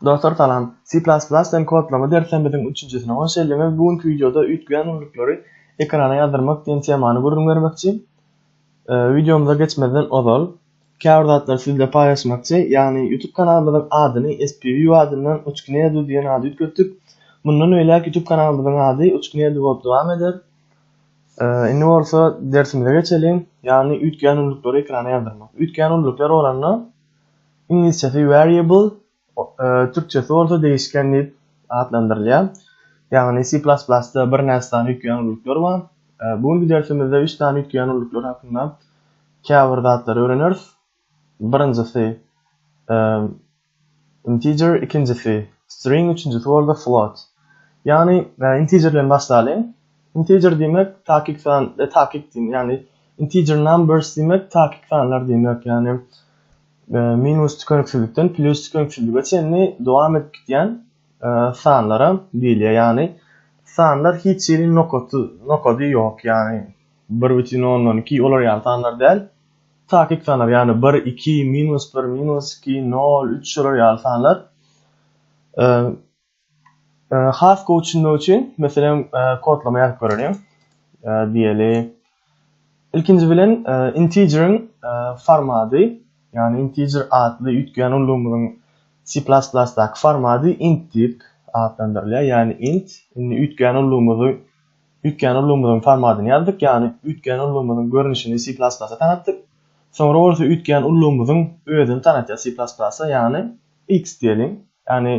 Dostlar salam. C++ den kodlama derslerimiziň üçünjisine hoş geldiňiz. Bu günki wideoda üýtgeýän ünlükleri ekrana ýazdyrmak diýen temany gürrüň bermekçi. Wideomyza geçmezden ozal, käbir zatlary siz bilen paýlaşmakçy, ýagny YouTube kanalymyzyň adyny SPView adyndan Uçknedu diýen ada üýtgetdik. Mundan beýläk YouTube kanalymyzyň ady Uçknedu bolup dowam eder. Indi bolsa dersimize geçeliň, ýagny üýtgeýän ünlükleri ekrana ýazdyrmak. Üýtgeýän ünlükler bolanda, Iňlisçesi variable, türkçesi bolsa degişken diýip atlandyrylýar. Ýagny C++-da birnäçe sany üýtgeýän ulluklar bar. Bu günki dersimizde üç sany üýtgeýän ulluklar hakynda käbir zatlary öwreneris. Birinjisi integer, ikinjisi string, üçünjisi bolsa float. Ýagny integer bilen başlalyň. Integer diýmek takyk san, takyk diýmek, ýagny integer numbers diýmek takyk sanlar diýmek, ýagny minus tükeniksizlikden plus tükeniksizlige çenli dowam edip gitýän sanlara diýilýär. Ýagny sanlar hiç hili nokaty, nokady ýok, ýagny 1,12 olar ýaly sanlar däl. Takyk sanlar, ýagny 1, 2, minus 1, minus 2, 0, 3 şolar ýaly sanlar. Has gowy düşünmek üçin, meselem, kodlama ýazyp göreliň. Diýeli, ilkinji bilen integeriň formady, ýagny integer atly üýtgeýän ullugymyzyň C++-daky formady int diýip atlandyrylýar, ýagny int. Indi üýtgeýän ullugymyzy, üýtgeýän ullugymyzyň formadyny ýazdyk, ýagny üýtgeýän ullugymyzyň görnüşini C++-a tanatdyk. Soňra bolsa üýtgeýän ullugymyzyň özüni tanatýar C++-a, ýagny. X diýeliň. Ýagny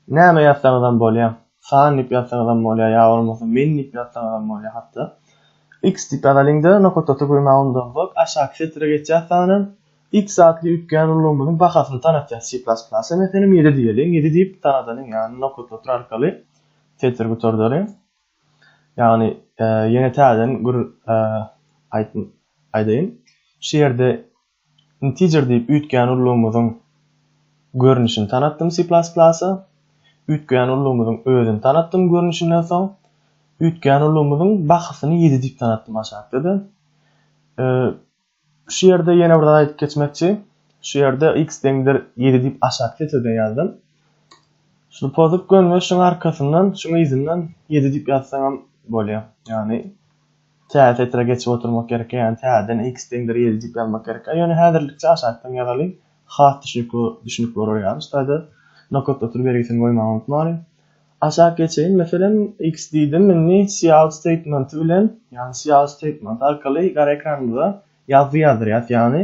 näme ýazsaňyzam bolýar. San diýip ýazsaňyzam bolýar, ýa bolmasa men diýip ýazsaňyzam bolýar hatda. X diýip ýazalyň-da, nokatasy goýmaga undansoň, aşaky setre geçýär sanan X atly üýtgän ulgamymyzyň bahasyny tanatýar. C++, meselem, ýedi diýeliň. Ýedi diýip tanadalyň, ýagny nokatlatr arkaly setri gutardalyň. Ýagny ýene täzeden gür aýdaýyn. Şu ýerde Integer diýip üýtgän ullugymyzyň görnüşini tanatdym C++. Üýtgän ullugymyzyň özüni tanatdym görnüşinden soň, üýtgän ullugymyzyň bahasyny ýedi diýip tanatdym aşakda-da. Şu ýerde ýene bir zat aýdyp geçmekçi. Şu ýerde x deňdir ýedi diýip aşak setirden ýazdym. Şuny pozup goýun we şuň arkasyndan, şuň yzyndan ýedi diýip ýazsaňam bolýar. Ýagny. Tä setre geçip oturmak gerekkä ýani täzeden x deňdir ýedi diýip ýazmak gerekkä ýöne häzirlikçe aşakdan ýazalyň has düşnükli düşnüp bolar ýaly ştaýda nokat otur bergisini goýmagy unutmalyň. Aşak geçeýin meselem x diýdim indi cout statementy bilen ýani cout statementy arkaly gara ekranymyza ýazgy ýazdyrýas ýani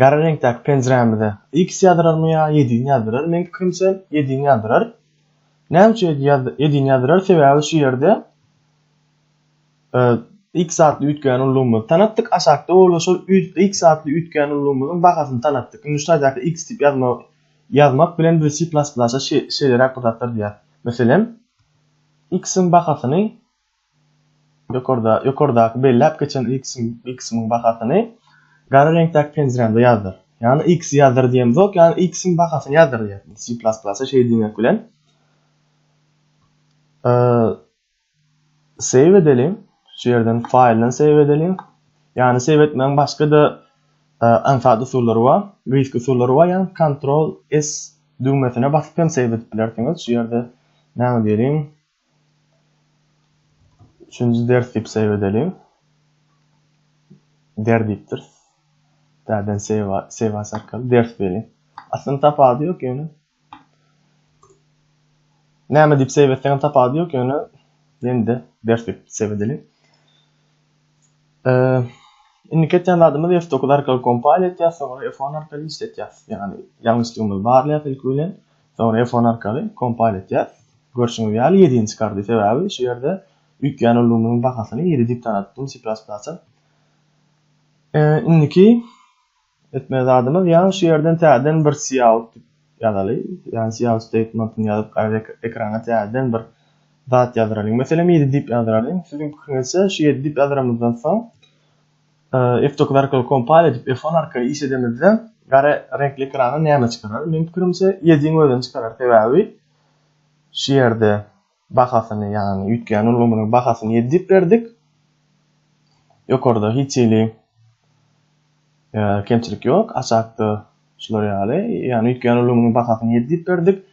gara reňkdäki penjirämize X ýazdyrarmy ýa ýedini ýazdyrar? Meň pikirimçe ýedini ýazdyrar. Näme üçin ýedini ýazdyrar? Sebäbi şu ýerde X atly üýtgän ullugymyzy tanatdyk, aşakda bolsa şol X atly üýtgän ullugymyzyň bahasyny tanatdyk. Indi şu taýdaky X diýip ýazmak ýazmak bilen biz C++-a şeýleräk bir zatlar diýýäs. Meselem, X-iň bahasyny Ýokardaky belläp geçen y kysymyň bahasyny gara reňkdäki penjirämde ýazdyr. Ýagny y ksy ýazdyr diýemzok, ýagny y kysymyň bahasyny ýazdyr diýýär. Indi si plas plasa şeý diýmek bilen save edeliň. Şu ýerden faýldan save edeliň. Ýagny save etmegiň başga-da aňsat usullary bar, gyýyk usullary bar. Ýagny kontrol S düwmesine basyp hem save edip bilersiňiz. Şu ýerde näme diýeliň? Üçünji ders diýip seýw edeliň. Der diýipdir. Däden seýwa, seýwas arkaly ders beriň. Aslynda tapady ýok ýöne. Näme diýip seýw etseňem tapady ýok ýöne ýende ders diýip seýw edeliň. Eee Indi ketýän zadymyz F9 arkaly kompal etýäs, soňra F10 arkaly işletýäs. Ýagny ýalňyşlygymyzy barlaýas ilki bilen. Soňra F-on arkaly kompile etýär. Görşüňiz ýaly ýedini çykardy, sebäbi şu ýerde üýtgän ulgamynyň bahasyny ýedi diýip tanatdym C++ a. Indiki etmeli zadymyz ýa şu ýerden täzeden bir cout diýip ýazaly, ýa cout statementini ýazyp gaýra ekrana täzeden bir zat ýazdyralyň. Meselem ýedi diýip ýazdyralyň. Siziň pikiriňizçe şu ýedi diýip ýazdyrymyzdan soň F-Document Compile edip F-on arkaly iş edemizde gara reňkli ekrana näme çykarar? Meniň pikirimçe Edge-iň özüni çykarar sebäbi şu ýerde bahasyny ýagny üýtgän ulgamynyň bahasyny ýedi diýip berdik. Ýokarda hiç hili kemçilik ýok aşakda şular ýaly ýagny üýtgän ulgamynyň bahasyny ýedi diýip berdik.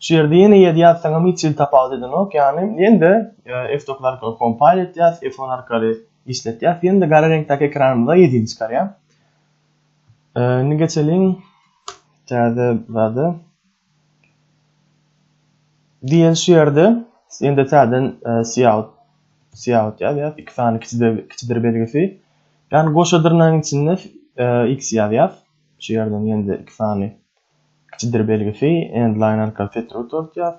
Şu ýerde ýene ýedi ýazsaňam hiç hili tapawut edenok, ýagny ýene-de F-dokuz arkaly kompile etýäs, F-on arkaly işletýäs, ýene-de gara reňkdäki ekranymyza ýedini çykarýar. Indi geçeliň täze zada. Diýen şu ýerde ýene-de täzeden siýaut siýaut ýazýas, iki sany kiçidir belgisi. Ýagny goşa dyrnagyň içinde x ýazýas. Şu ýerden ýene-de iki sany Kiçidir belgisi, endline arkaly setir utart ýaz,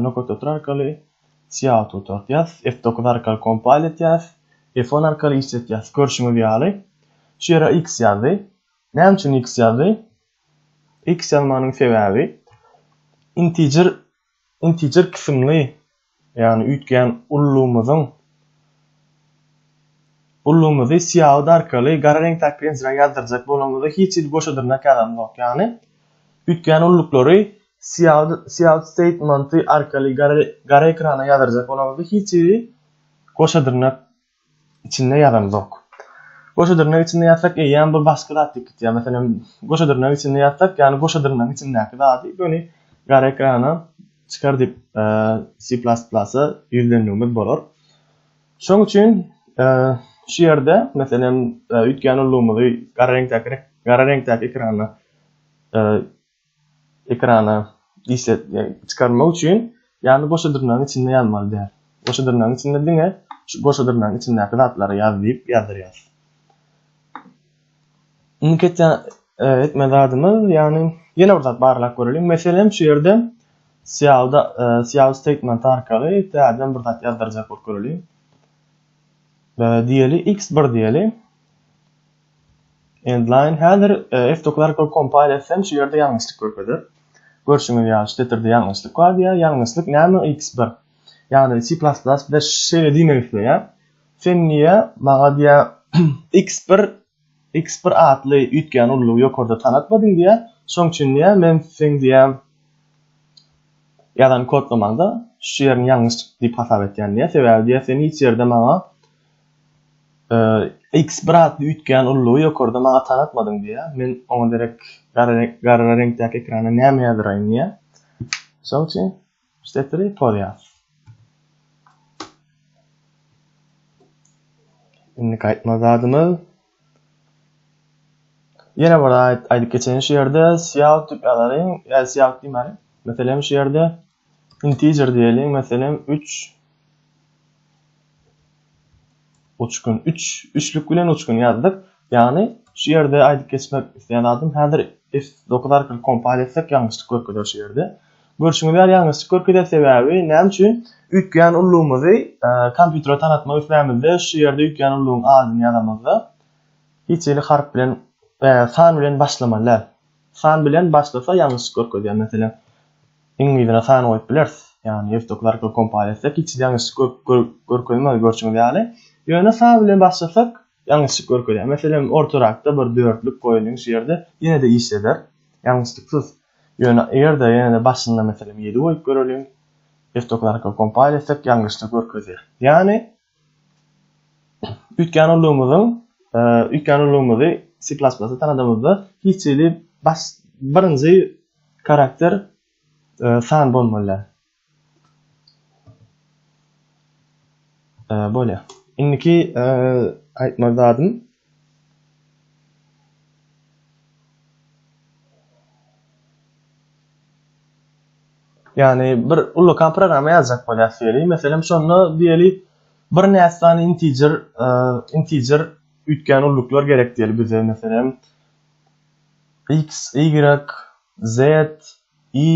nokat setir arkaly siýahat utart ýaz, F dokuz arkaly kompile et ýaz, F on arkaly işlet ýaz. Görşüňiz ýaly, şu ýere X ýazdy. Näme üçin X ýazdy? X ýazmagynyň sebäbi integer integer kysymly, ýagny üýtgän ullumyzyň ullumyzy syýahat arkaly gara reňkdäki penjirä ýazdyrjak bolanymyzda hiç hili goşa dyrnak ýazanymzok. Ýagny üýtgän ulluklary syýahat syýahat statementy arkaly gara gara ekrana ýazdyrjak bolanymyzda hiç hili goşa dyrnak içinde ýazanzok. Goşa dyrnak içinde ýazsak eýýäm bir başga zat ýitip gitýär. Meselem, goşa dyrnak içinde ýazsak, ýagny goşa dyrnagyň içindäki zady göni gara ekrana çykar diýip C++-a ýüzlenmegimiz bolar. Şoň üçin şu ýerde meselem üýtgän ullugymyzy gara reňkdäki gara reňkdäki ekrana ekrana işlet çykarmak üçin ýagny goşa dyrnagyň içinde ýazmaly däl. Goşa dyrnagyň içinde diňe şu goşa dyrnagyň içindäki zatlary ýaz diýip ýazdyrýar. Indi ketýän e, etme zadymyz ýagny ýene bir zat barlap göreliň. Meselem şu ýerde syýawda e, syýaw statement arkaly täzeden bir zat ýazdyrjak bolup göreliň. E, diýeli x1 diýeli. Endline häzir F-Doclarco kompaniýasy hem şu ýerde ýalňyşlyk görkezer. Görşüňiz ýaly şu setirde ýalňyşlyk bar diýýär. Ýalňyşlyk näme X bir. Ýagny C++ bize şeýle diýmek isleýär. Sen niýe maňa diýýär X bir X bir atly üýtgän ullugy ýokarda tanatmadyň diýýär. Şoň üçin diýýär men seň diýýär ýazan kodlamanda şu ýerini ýalňyş diýip hasap etýän diýýär. Sebäbi diýýär sen hiç ýerde maňa Iks bir atly üýtgän ullugy ýokarda maňa tanatmadyň diýýär. Men oňa derek gara reňkdäki ekrana näme ýazyraýyn diýýär. Mysal üçin, Stepri Pol ýaz. Indi gaýtma zadymyz. Ýene bir aýdyp geçeýin şu ýerde, Siýal tüp ýazaryň, ýa Siýal diýmäliň. Meselem şu ýerde Integer diýeliň, meselem, üç. Uçgun. Üç, üçlük bilen uçgun ýazdyk. Ýagny, şu ýerde aýdyp geçmek isleýän zadym, häzir F9 arkaly kompal etsek, ýalňyşlyk görkezer şu ýerde. Görşüňiz ýaly, ýalňyşlyk görkezer, sebäbi näme üçin? Üýtgän ullugymyzy kompýutere tanatmak islämizde, şu ýerde üýtgän ullugyň adyny ýazamyzda, hiç hili harp bilen, san bilen başlamaly däl. San bilen başlasa ýalňyşlyk görkezýär. Meselem, iňlisine san goýup bileris. Ýagny ýurtdaky zarykly kompal etsek hiç ýalňyşlyk görkezmez görşüňiz ýaly. Ýöne sa bilen başlasak ýalňyşlyk görkezýär. Meselem, ortarakda bir dörtlük goýulyň şu ýerde ýene-de işleder. Ýalňyşlyksyz. Ýöne eger-de ýene-de başynda meselem ýedi goýup göreliň. Ýurtdaky zarykly kompal etsek ýalňyşlyk görkezýär. Ýagny Üýtgän ulugymyzyň üýtgän ulugymyzy C++ tanadymyzda hiç hili baş birinji karakter san bolmaly. Bolýar. Indiki aýtmaly zadym Ýagny bir ullakan programma ýazjak bolýas diýeli. Meselem şonda diýeli bir näçe sany integer, integer üýtgän ulluklar gerek diýeli bize meselem x, y, z, i,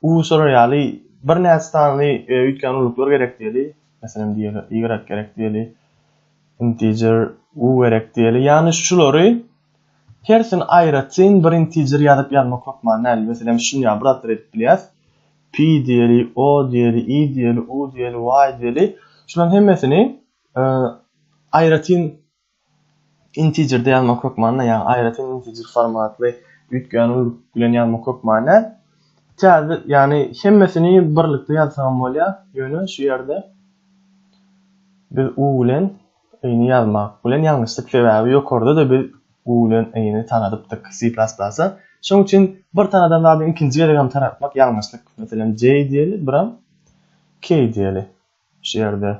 u şolar ýaly bir näçe sany üýtgän ulluklar gerek diýeli. Meselem diýeli y gerek diýeli. Integer u gerek diýeli. Ýagny şulary Persin aýratyn bir integer ýazyp ýazmak hökman däl, meselem şuny ýa bir zatlar edip bilýäs, pi diýeli, o diýeli, i diýeli, u diýeli, y diýeli, şularyň hemmesini aýratyn integerde ýazmak hökman däl, ýagny aýratyn integer formatly üýtgän ulylyk bilen ýazmak hökman däl. Täze, ýagny hemmesini birlikde ýazsagam bolýar, ýöne şu ýerde biz u bilen Yny ýazmak bilen ýalňyşdyk, sebäbi ýokarda-da biz u bilen yny tanadypdyk C++. Şonuň üçin bir tanadan zady ikinji gezegem tanatmak ýalňyşlyk. Meselem, J diýeli, biram K diýeli. Şu ýerde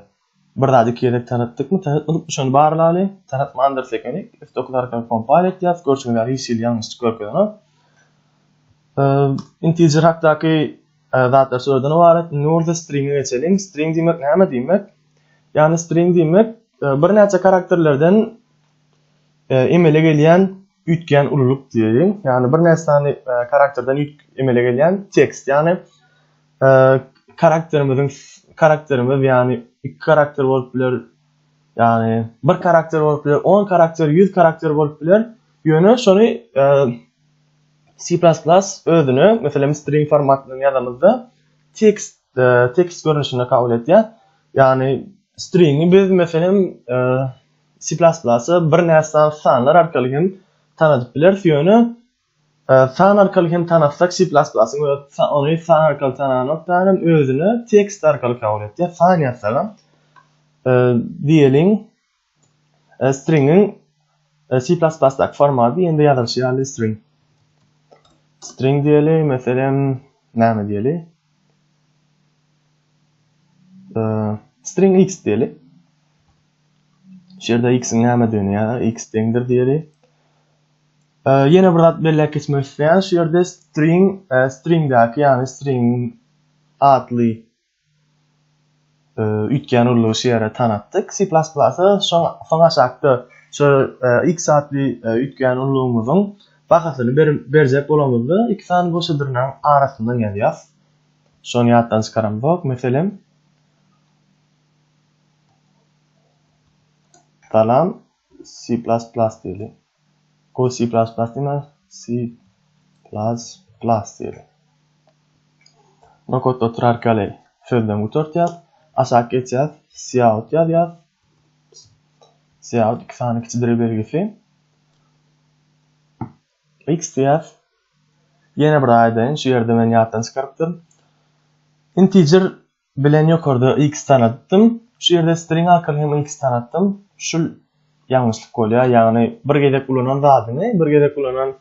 bir zady iki gezek tanatdykmy, tanatmadykmy şony barlaly. Tanatmandyrys ekeni. F dokuz arkaly kompal etýäs. Görşüňiz ýaly hiç hili ýalňyşlyk görkezenok. Integer hakdaky Zatlar şulardan ybarat. Indi bolsa stringe geçeliň. String diýmek näme diýmek? Ýagny string diýmek birnäçe karakterlerden emele gelýän üýtgän ululyk diýeýin. Ýagny birnäçe sany karakterden emele gelýän tekst. Ýagny karakterimiziň karakterimiz ýagny iki karakter bolup biler, ýagny bir karakter bolup biler, 10 karakter, 100 karakter bolup biler. Ýöne şony C++ özüne, meselem, string formatynda ýazamyzda, tekst, tekst görnüşinde kabul edýär. Ýagny stringi biz, meselem, C++ bir näçe sanlar arkaly hem tanadyp bileris, ýöne san arkaly hem tanatsak C++ ony san arkaly tananokdan hem özüne tekst arkaly kabul edýär. San ýazsagam, diýeliň, Stringiň C++ daky formaty ýene-de ýazylyşy ýaly string. String diýeli, meselem, näme diýeli? String x diýeli. Şu ýerde x-iň nämedigini ýa x deňdir diýeli. Ýene bir zat belläp geçmek isleýän, şu ýerde string, stringdäki, ýagny string atly üýtgän uly şu ýere tanatdyk. C++ şoň soň aşakda şu e, x atly e, üýtgän ululygymyzyň bahasyny berjek bolamyzda iki sany goşadyrynyň arasyndan ýazýas. Şony ýatdan çykaramzok. Meselem, salam C++ diýeli. Go C++ diýme, C++ diýeli. Bu kodda oturarka ýaly sözlem gutartýas. Aşak geçýäs, cout ýazýas. Cout iki sany kiçi dire belgisi. X diýýäs. Ýene bir aýdaýyn, şu ýerde men ýatdan çykarypdyryn. Integer Bilen ýokarda X tanatdym. Şu ýerde string arkaly hem X tanatdym. Şul ýalňyşlyk bolýar. Ýagny bir gezek ulanan zadyňy, bir gezek ulanan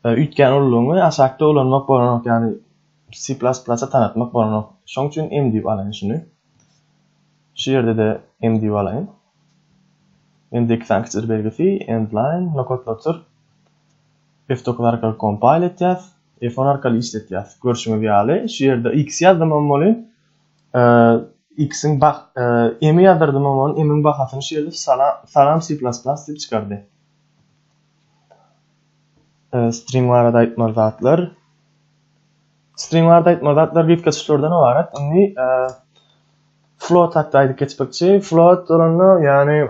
e, üýtgän ululygyňy aşakda ulanmak bolanok. Ýagny C++ tanatmak bolanok. Şoň üçin M diýip alaýyn şuny. Şu ýerde de M diýip alaýyn. Endi iki sany kiçir belgisi, endline, nokatlatyr. F-dokuz arkaly kompile etýäs, F-on arkaly işletýäs. Görşüňiz ýaly, şu ýerde X ýazdym hem bolýn. X-iň bah, M-i ýazdardym hem bolýn. M-iň bahasyny şu ýerde salam C++ diýip çykardy. String barada aýtmaly zatlar. String barada aýtmaly zatlar gitge çyşlardan ybarat. Indi float hakda aýdyp geçmekçi. Float bolanda, ýagny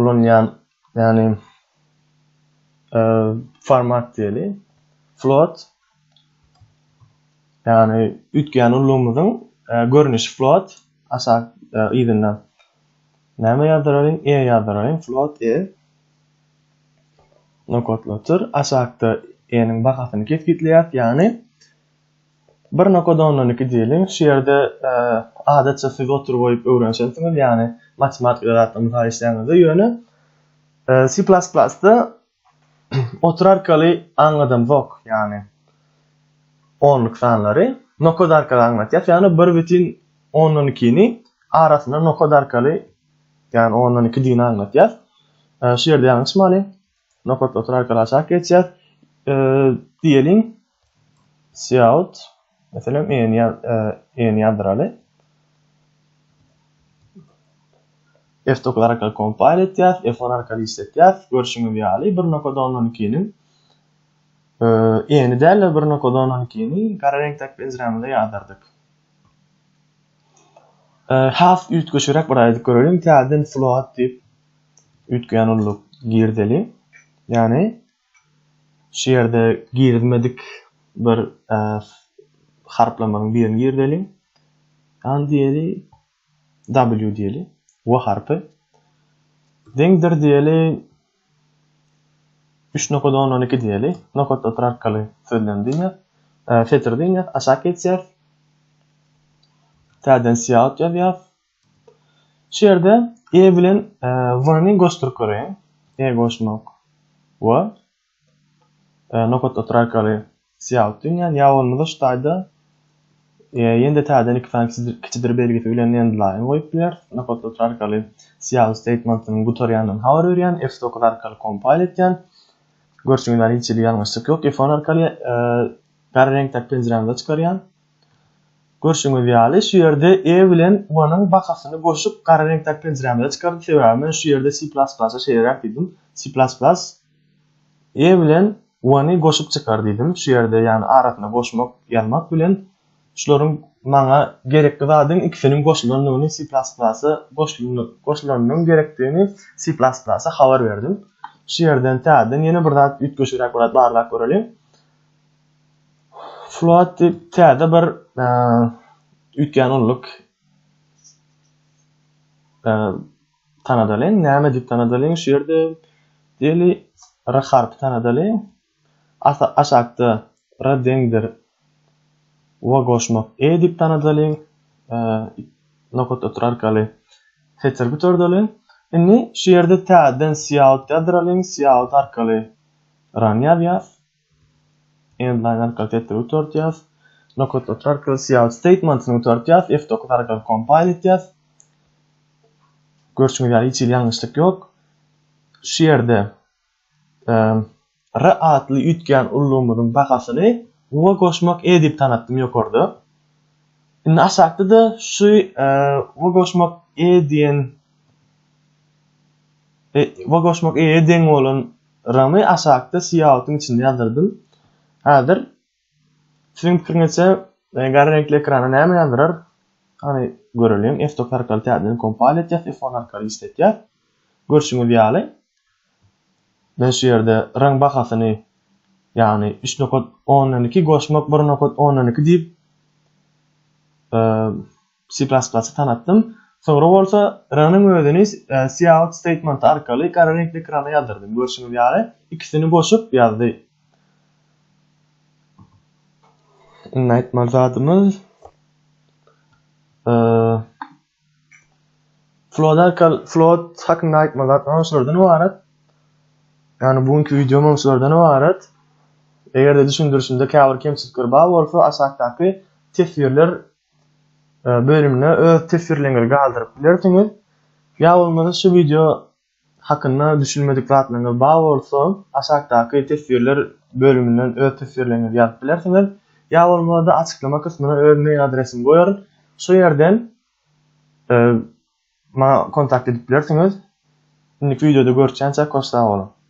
ulanýan ýagny format diýeli float ýagny üýtgän ulgamymyzyň görnüşi float aşak yzynda näme ýazdyraryn e ýazdyraryn float e nokatlatyr aşakda e-niň bahasyny kesgitleýär ýagny Bir nokada ondan iki diýeliň, şu ýerde adatça siz oturyp oýup öwrenişensiňiz, ýagny matematika zatdan mysal işlänizde, ýöne C++ da otur arkaly aňladamzok, ýagny onluk sanlary nokada arkaly aňlatýas, ýagny bir bitin ondan ikini arasynda nokada arkaly, ýagny ondan iki digini aňlatýas. Şu ýerde ýalňyşmaly. Nokat otur arkaly aşak geçýär. E, diýeliň Seout meselem en ýaz en ýazdyraly. F9 arkaly kompile etýär, F10 arkaly işletýär. Görşüňiz ýaly bir nokat 10-12-niň e, eni däl-de bir nokat 10-12-ni gara reňkdäki penjiremizde ýazdyrdyk. Has üýtgeşigräk bir aýdyp göreliň, täzeden float diýip üýtgeýän ulluk girdeli. Ýagny şu ýerde girizmedik bir harplamanyň birini girdeli. Ýagny diýeli W diýeli. W harpy. Deňdir diýeli. 3 nokada 10 12 diýeli. Nokat otur arkaly sözlem diýýär. E, Fetir diýýär. Aşak geçýär. Täden siýaut ýazýar. Şu ýerde E bilen e, W-ni goşduryp göreýin. E goşmak. W. e, nokat otur arkaly syýalyp dünýän ýa bolmasa ştaýda e, ýende täzeden iki sany kiçidir belgisi bilen endline goýup biler. Nokat otur arkaly syýalyp statementynyň gutarýandan habar berýän, F9 arkaly kompile etýän. Görşüňiz ýaly hiç hili ýalňyşlyk ýok. F10 arkaly e, gara reňkdäki penjirämize çykarýan. Görşüňiz ýaly şu ýerde E bilen Wanyň bakasyny goşup gara reňkdäki penjirämize çykardy. Sebäbi men şu ýerde C++-a şeýleräk diýdim. C++ E bilen Y-ny goşup çykar diýdim. Şu ýerde ýagny arasyna goşmak ýazmak bilen şularyň maňa gerekli zadyň ikisiniň goşulandygyny C++ goşulanynyň gerekdigini C++ habar berdim. Şu ýerden täzeden ýene bir zat üýtgeşigräk bir zat barlap göreliň. Float diýip täze bir üýtgän ulluk Tanadalyň, näme diýip tanadalyň şu ýerde? Diýeli, r harpy tanadalyň. Asa aşakda r deňdir wa goşmak e diýip tanadalyň. Nokat otur arkaly setir gutardalyň. Indi şu ýerde täzeden siýaut ýazdyralyň, siýaut arkaly run ýazýas. Endline arkaly setiri gutardýas. Nokat satry arkaly cout statementyny gutardýas. F9 arkaly compile etýas. Görşüňiz ýaly hiç hili ýalňyşlyk ýok. Şu ýerde R atly üýtgän ullumyzyň bahasyny Uga goşmak E diýip tanatdym ýokarda. Indi aşakda-da şu e, we goşmak e diýen e, we goşmak e deň bolan Ramy aşakda syýahatyň içinde ýazyrdym. Häzir siziň pikiriňizçe gara reňkli ekrana näme ýazdyrar? Hany göreliň. F-top arkaly täzeden kompal etýäs, F-on arkaly işletýäs. Görşüňiz ýaly, men şu ýerde raň bahasyny, ýagny üç nokat ondan iki goşmak bir nokat ondan iki diýip, C++ tanatdym. Soňra bolsa run-yň özüni cout statement arkaly gara reňkli ekrana ýazdyrdy. Görşüňiz ýaly, ikisini goşup ýazdy. Iň aýtmaly zadymyz float arkaly float hakynda aýtmaly zatlarym şulardan ybarat. Yani bu günkü videom şulardan ibaret. Eger de düşündürüşimde käbir kemçilikler bar bolsa aşakdaky teswirler bölümine öz teswirleriňizi galdyryp bilersiňiz. Ýa bolmasa şu wideo hakynda düşünmedik zatlaryňyz bar bolsa, aşakdaky teswirler bölüminden öz teswirleriňizi ýazyp bilersiňiz. Ýa bolmasa açyklama kysmyna öz mail adresimi goýaryn. Şu ýerden maňa kontakt edip bilersiňiz. Indiki wideoda görüşýänçä koş sag boluň.